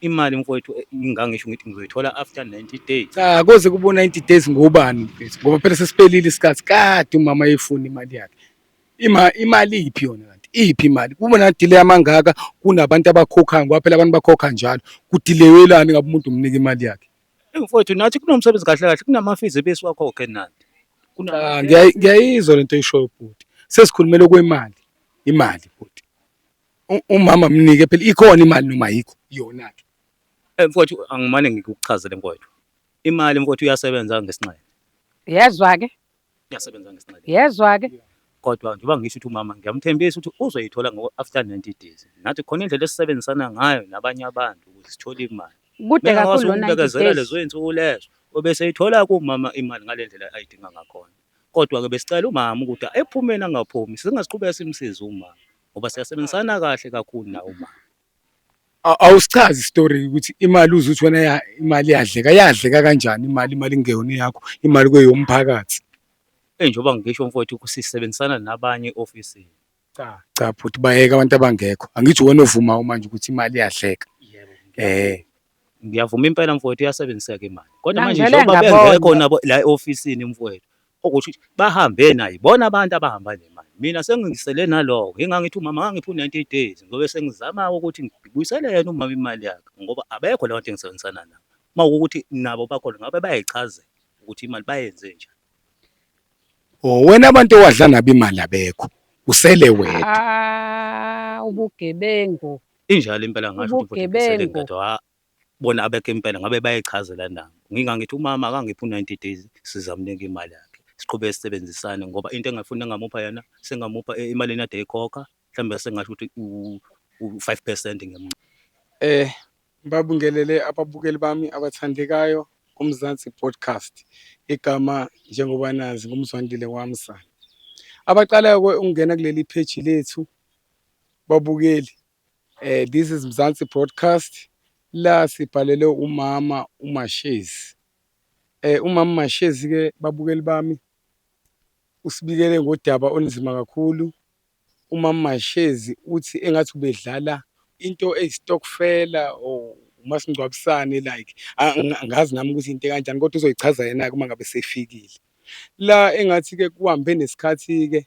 Imali mfowethu eh, ngangisho ngithi ngizoyithola after 90 days. Cha koze kubo 90 days ngobani mfethu ngoba phela sesiphelile isikhathi kade umama efuna imali yakhe. Ima imali iphi yona kanti? Iphi imali? Kuba na delay amangaka kunabantu abakhokhayo ngoba phela abantu bakhokha njalo. Kudeleyelani ngabe umuntu umnika imali yakhe? Eh, Mfowethu nathi kunomsebenzi kahle kahle kunamafizi ebesiwakhokhe nathi. Kuna Ah, ngiyayi- ngiyayizwa lento oyishoyo bhuti. Sesikhulumela kwemali, imali bhuti. Umama mnike phela ikhona imali noma ayikho yona ke. Eh, mfowethu angimane ngikuchazele mfowethu. Imali mfowethu iyasebenza ngesinxele. Yezwa ke? Iyasebenza ngesinxele. Yezwa ke? Kodwa njengoba ngisho ukuthi umama ngiyamthembisa ukuthi uzoyithola ngo after 90 days. Nathi khona indlela esisebenzisana ngayo nabanye abantu ukuthi sithole imali. Kude kakhulu lo 90 days. Lezo insuku lezo obeseyithola kumama imali ngalendlela ayidinga ngakhona. Kodwa ke besicela umama ukuthi ephumeni angaphumi singaziqhubeka simsiza umama. ngoba siyasebenzisana kahle kakhulu nawo umama awusichazi story ukuthi imali uze uthi wena ya imali yadleka yadleka kanjani imali imali ingeyona yakho imali kweyomphakathi eh njengoba ngisho mfowethu kusisebenzisana nabanye office cha cha bhuti bayeka abantu abangekho angithi wena ovuma manje ukuthi imali yadleka eh Ngiyavuma impela mfowethu iyasebenzisa ke imali. Kodwa manje Ngangivele njengoba ngabona. bengekho nabo la e-ofisini mfowethu. Okusho ukuthi bahambe nayo ibona abantu abahamba nemali. Mina sengingisele naloko. Ngingangithi umama ngangiphi u-90 days ngobe sengizama ukuthi ngibuyisele yena umama imali yakhe ngoba abekho labantu engisebenzisana nabo. Uma ukuthi nabo bakhona ngabe bayayichazela ukuthi imali bayenze njani. Oh wena abantu owadla nabo imali abekho. Usele wedwa. Ah, ubugebengu. Injalo impela ngasho ukuthi ubhuti ubhekisele Ubugebengu. ngedwa ha bona abekho impela ngabe bayichazela nabo. Ngingangithi umama akangiphi u-90 days sizamnika imali yakhe. Siqhube sisebenzisane ngoba into engafuni engamupha yona sengamupha e- emalini ade eyikhokha mhlawumbe sengasho ukuthi u-5 percent ngiyamncela. Eh babingelele ababukeli bami abathandekayo kuMzansi Podcast. Igama njengoba nazi nguMzwandile Wamsa. Abaqalayo ke ukungena kuleli page lethu Babukeli, eh, this is Mzansi Broadcast la sibhalele umama uMashezi. Eh, umama Mashezi ke babukeli bami usibikele ngodaba olunzima kakhulu. Umama Mashezi uthi engathi ubedlala into eyistokfela or umasingcwabisane like angazi nami ukuthi into kanjani kodwa uzoyichaza yena uma ngabe sefikile. La engathi ke kuhambe nesikhathi ke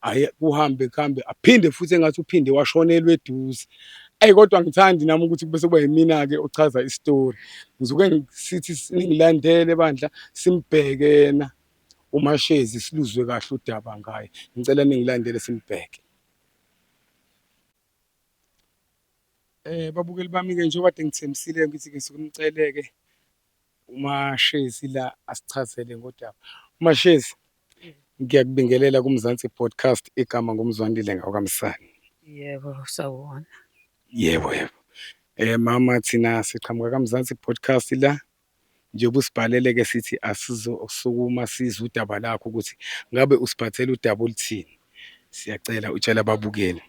aye kuhambe kuhambe aphinde futhi engathi uphinde washonelwa eduze eyi kodwa ngithandi nami ukuthi kube sekuba yimina-ke ochaza isitori ngisuke sithi ningilandele bandla simbheke yena umashezi siluzwe kahle udaba ngaye ngicela ningilandele simbheke eh babukeli bami-ke njengoba de ngithembisile ngithi-ke suke nimceleke UMashezi la asichazele ngodaba. Mashezi ngiyakubingelela kuMzansi Podcast igama nguMzwandile ngawakaMsani. Yebo sawubona. Yebo yebo. Eh mama thina siqhamuka kaMzansi Podcast la njengoba usibhalele ke sithi asizosukuma sizwe udaba lakho ukuthi ngabe usiphathele udaba oluthini. Siyacela utshela ababukeli.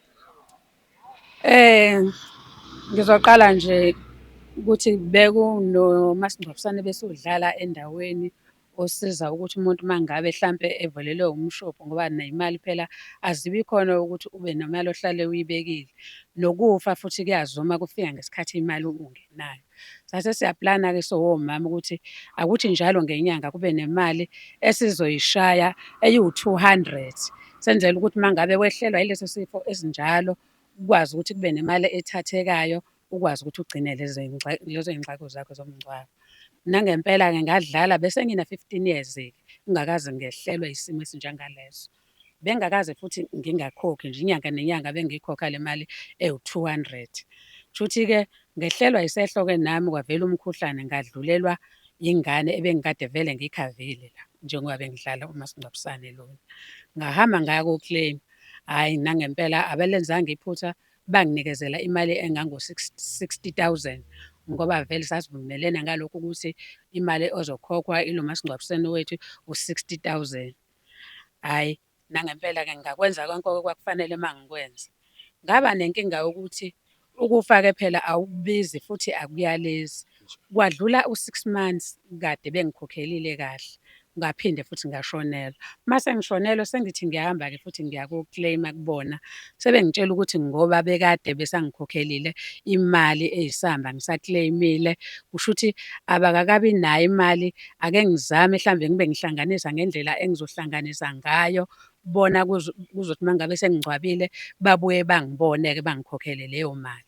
Ngizoqala nje ukuthi bekunomasingcwabisane ebesudlala endaweni osiza ukuthi umuntu uma ngabe hlampe evelelwe umshophi ngoba ney'mali phela azibi khona ukuthi ube nemali ohlale uyibekile. Nokufa futhi kuyazuma kufika ngesikhathi imali ungenayo. Sase siyaplana-ke sowomama ukuthi akuthi njalo ngenyanga kube nemali esizoyishaya eyiwu-200 senzela ukuthi uma ngabe wehlelwa yileso sifo esinjalo ukwazi ukuthi kube nemali ethathekayo ukwazi ukuthi ugcine lezo y'ngxako zakho zomngcwabo. Nangempela-ke ngadlala bese ngina-fifteen years-ke ngingakaze ngehlelwe isimo esinjengaleso. Bengingakaze futhi ngingakhokhi nje inyanga nenyanga bengiyikhokha le mali ewu-200. Shuthi-ke ngehlelwa yisehlo-ke nami kwavela umkhuhlane ngadlulelwa yingane ebengikade vele ngiyikhavile la njengoba bengidlala umasingcwabisane lona. Ngahamba ngaya ko-claim, hhayi nangempela abalenzanga iphutha banginikezela imali engango-60,000 ngoba vele sasivumelene ngalokhu ukuthi imali ozokhokhwa ilo masingcwabisane wethu u-60,000. Hhayi, nangempela-ke ngakwenza konke okwakufanele uma ngikwenza. Ngaba nenkinga yokuthi ukufa-ke phela awukubizi futhi akuyalezi. Kwadlula u-six months kade bengikhokhelile kahle, ngaphinde futhi ngashonelwa. Uma sengishonelwe sengithi ngiyahamba-ke futhi ngiya ko-claim-a kubona, Sebengitshela ukuthi ngoba bekade besangikhokhelile imali eyisamba ngisaclaimile, kusho ukuthi abakakabi nayo imali. Ake ngizame mhlawumbe ngibe ngihlanganisa ngendlela engizohlanganisa ngayo, bona kuzothi uma ngabe sengingcwabile babuye bangibone-ke bangikhokhele leyo mali.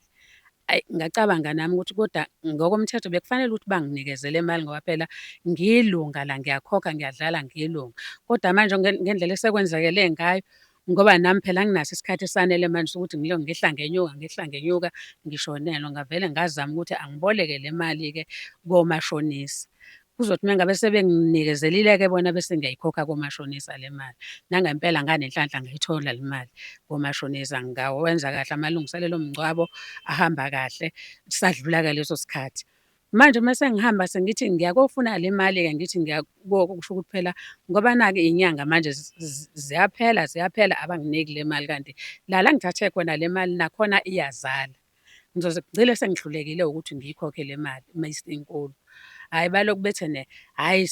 Ayi, ngacabanga nami ukuthi kodwa ngokomthetho bekufanele ukuthi banginikeze le mali ngoba phela ngiyilunga la, ngiyakhokha, ngiyadlala ngiyilunga. Kodwa manje ngendlela esekwenzakele ngayo, Ngoba nami phela anginaso isikhathi esanele manje sokuthi ngilo ngehla ngenyuka ngehla ngenyuka ngishonelwa. Ngavele ngazama ukuthi angiboleke le mali-ke komashonisa. Kuzothi uma ngabe sebenginikezelile-ke bona bese ngiyayikhokha komashonisa le mali. Nangempela nganenhlanhla ngayithola le mali komashonisa. Ngawenza kahle amalungiselelo omngcwabo ahamba kahle, sadlula-ke leso sikhathi. Manje uma sengihamba sengithi ngiyakofuna le mali-ke ngithi ngiyakoko kusho ukuthi phela ngoba nake iy'nyanga manje ziyaphela ziyaphela abanginiki le mali kanti lala ngithathe khona le mali nakhona iyazala. Ngizoze ngigcile sengihlulekile ukuthi ngiyikhokhe le mali uma isinkulu. Hhayi baloku bethe ne hhayi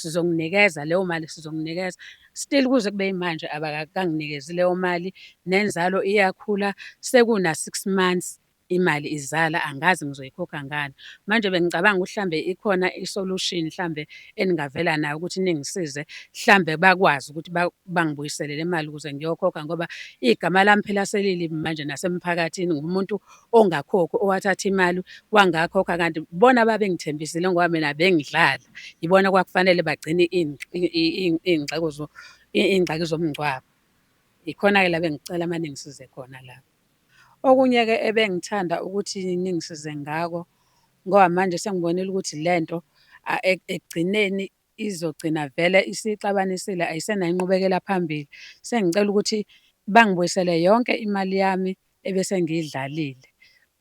sizonginikeza leyo mali sizonginikeza. Still kuze kube yimanje abakakanginikezi leyo mali nenzalo iyakhula sekuna-six months. imali izala angazi ngizoyikhokha ngani manje bengicabanga ukuthi hlambe ikhona isolution hlambe eningavela nayo ukuthi ningisize hlambe bakwazi ukuthi bangibuyisele le mali ukuze ngiyokhokha ngoba igama lami phela selilibi manje nasemphakathini ngumuntu ongakhokhi owathatha imali wangakhokha kanti bona babengithembisile ngoba mina bengidlala yibona kwakufanele bagcine iy'ngxeko iy'ngxaki zomngcwabo ikhona-ke la bengicela uma ningisize khona lapho Okunye-ke ebengithanda ukuthi ningisize ngako, ngoba manje sengibonile ukuthi le nto ekugcineni izogcina vele isixabanisile ayisenayo inqubekela phambili. Sengicela ukuthi bangibuyisele yonke imali yami ebese ngiyidlalile,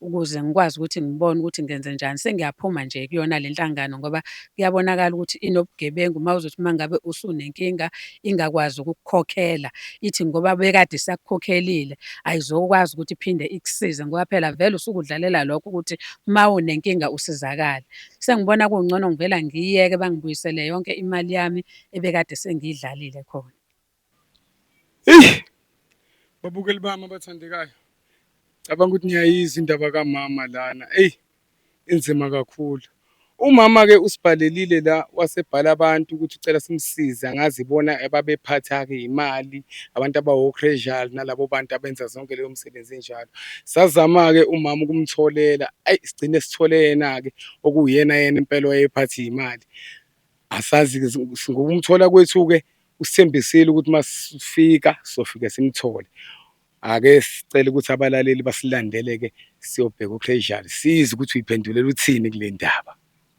ukuze ngikwazi ukuthi ngibone ukuthi ngenzenjani. Sengiyaphuma nje kuyona le nhlangano ngoba Kuyabonakala ukuthi inobugebengu uma uzothi uma ngabe usunenkinga ingakwazi ukukukhokhela ithi ngoba bekade isakukhokhelile ayizokwazi ukuthi iphinde ikusize ngoba phela vele usukudlalela lokho ukuthi uma unenkinga usizakale. Sengibona kungcono ngivela ngiyiyeke bangibuyisele yonke imali yami ebekade sengiyidlalile khona. Eyi babukeli bami abathandekayo, cabanga ukuthi niyayizwa indaba kamama lana. Eyi inzima kakhulu. Umama-ke usibhalelile la wasebhala abantu ukuthi ucela simsize angazi ibona ababephatha-ke imali, abantu abawokhrejali nalabo bantu abenza zonke leyo msebenzi enjalo. Sazama-ke umama ukumtholela, ayi sigcine sithole yena-ke okuwuyena yena impela owayephatha iy'mali. Asazi-ke ngokumthola kwethu-ke usithembisile ukuthi uma sifika sofike simthole. Ake sicele ukuthi abalaleli basilandele-ke siyobheka u-Casual, sizwe ukuthi uyiphendulela uthini kule ndaba.